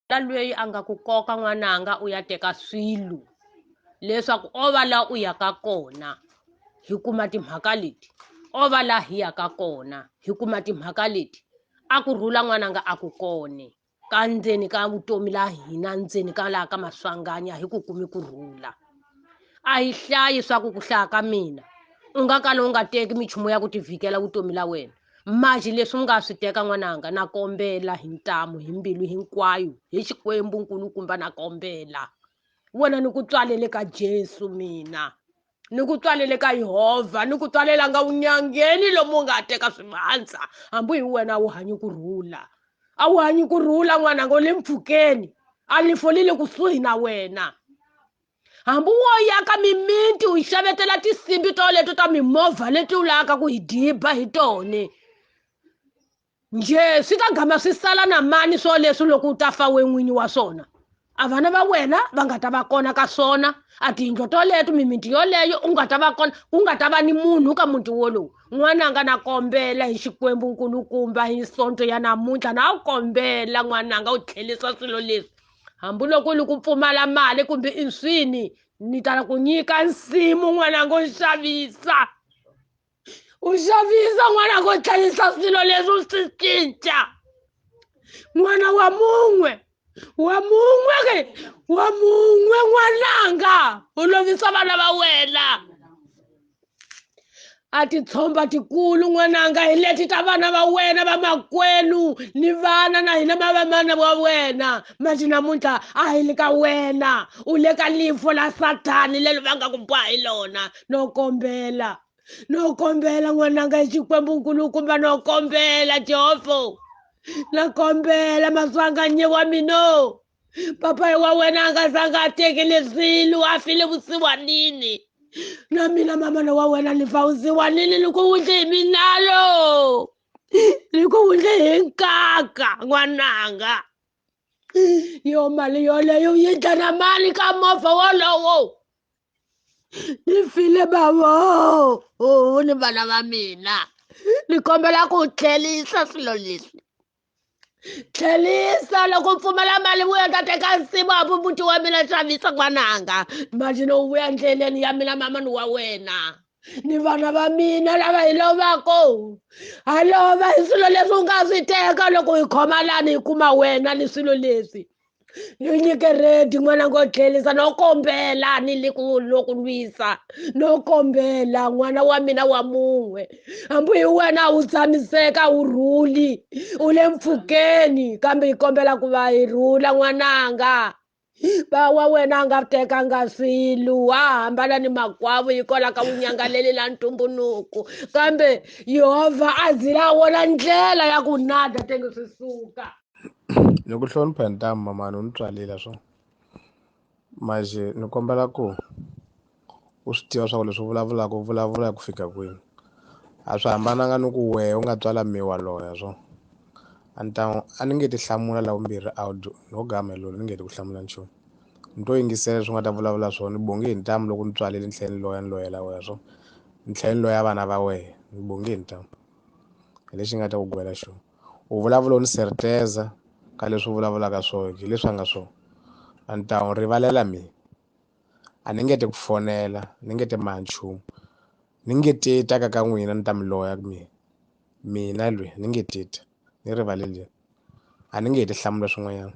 na lweyi a nga ku koka n'wananga u ya teka swilo leswaku o va la u yaka kona hi kuma timhaka leti o va la hi yaka kona hi kuma timhaka leti a ku rhula n'wananga a ku kone ka ndzeni ka vutomi la hina ndzeni ka laha ka maswanganya hi ku kumi ku rhula a hi hlayi swa ku ku hlaya ka mina u nga kala u nga teki minchumu ya ku tivhikela vutomi la wena Maji leswi u nga swi teka n'wananga na kombela hi ntamu hi mbilu hinkwayo hi xikwembu nkulukumba na kombela wena ni ku tswalele ka jesu mina ni ku tswalele ka yehovha ni ku tswalela nga unyangeni lomu nga teka swivandza hambi hi wena a wu hanyi ku rhula a wu hanyi ku rhula n'wananga u le mpfhukeni a lifo li le kusuhi na wena hambi wo yaka mimiti u xavetela tisimbi to leto ta mimovha leti u lavaka ku hi diba hi tone nje swi ka gama swi sala na mani swo leswi loko u ta fa we n'winyi wa swona a vana va wena va nga ta va kona ka swona a tiyindlo toleto mimiti yoleyo u nga ta va kona ku nga ta va ni munhu ka muti wolowu n'wananga na kombela hi xikwembu nkulukumba hi sonto ya namuntlha na wu kombela n'wananga u tlhelisa swilo leswi hambiloko ni ku pfumala mali kumbe inswini ni tala ku nyika nsimu n'wananga u xavisa u xavisa n'wananga u tlhelisa swilo leswi u swi cinca n'wana wa mun'we wa mun'we ke wa mun'we n'wananga u lovisa vana va wena a titshomba tikulu n'wananga hi leti ta vana va wena va makwenu ni vana na hina ma va mana wa wena mati namuntlha a hi le ka wena u le ka lifo la sathani lelo va nga ku bwa hi lona no kombela no kombela n'wananga hi xikwembu nkulukumba no kombela jehova na kombela maswanganyewa mino papai wa wena a nga zanga a teke leswilu a file vusiwanini na mina mamana wa wena ni fa vusiwanini ni ku wundle hi minalo ni ku wundle hi nkaka n'wananga yo mali yoleyo yi dya na mali ka movha wolowo ni file bavo ni vana va mina ni kombela ku tlhelisa swilo leswi tlhelisa loko u pfumala mali vuya ta teka nsimu a vu muti wa mina xavisa n'wananga mali no vuya ndleleni ya mina mama ni wa wena ni vana va mina lava hi lovako ha lova hi swilo leswi u nga swi teka loko hi khoma lani hi kuma wena ni swilo leswi ni nyike redi n'wana ngo tlhelisa no kombela ni le ku loko lwisa no kombela n'wana wa mina wa mun'we hambi hi wena u tshamiseka u rhuli u le mpfhukeni kambe hi kombela ku va hi rhula n'wananga ba wa wena a nga tekanga swilo wa hambana ni makwavo yi kola ka vunyangaleli la ntumbuluko kambe yehovha a zila wona ndlela ya ku nada tenge swi suka ni ku hlonipha hi ntamu mamani u ni tswarile swo manje ni kombela ku u swi tiva swa ku leswi u vulavulaka u vulavula hi ku fika kwini a swi hambananga ni ku wehe u nga tswala me wa loya swo a ni ta n'wi a ni nge ti hlamula la vumbirhi audio no ga Melulo ni nge ti ku hlamula nchumu ni to yingisela leswi u nga ta vulavula swona ni bonge hi ntamu loko ni tswalile ni tlhela ni loya ni loyela wehe swo ni tlhela ni loya vana va wehe ni bonge hi ntamu hi lexi nga ta ku gwela xona. U vulavula u ni serteza ka leswi u vulavulaka swona hi leswi a nga swona a ni ta n'wi rivalela mina a ni nge te ku fonela ni nge te ma nchumu ni nge te ta ka ka n'wina ni ta mi loya ku mina mina lwe ni nge te ta ni rivaleleni a ni nge he ti hlamula swin'wanyana.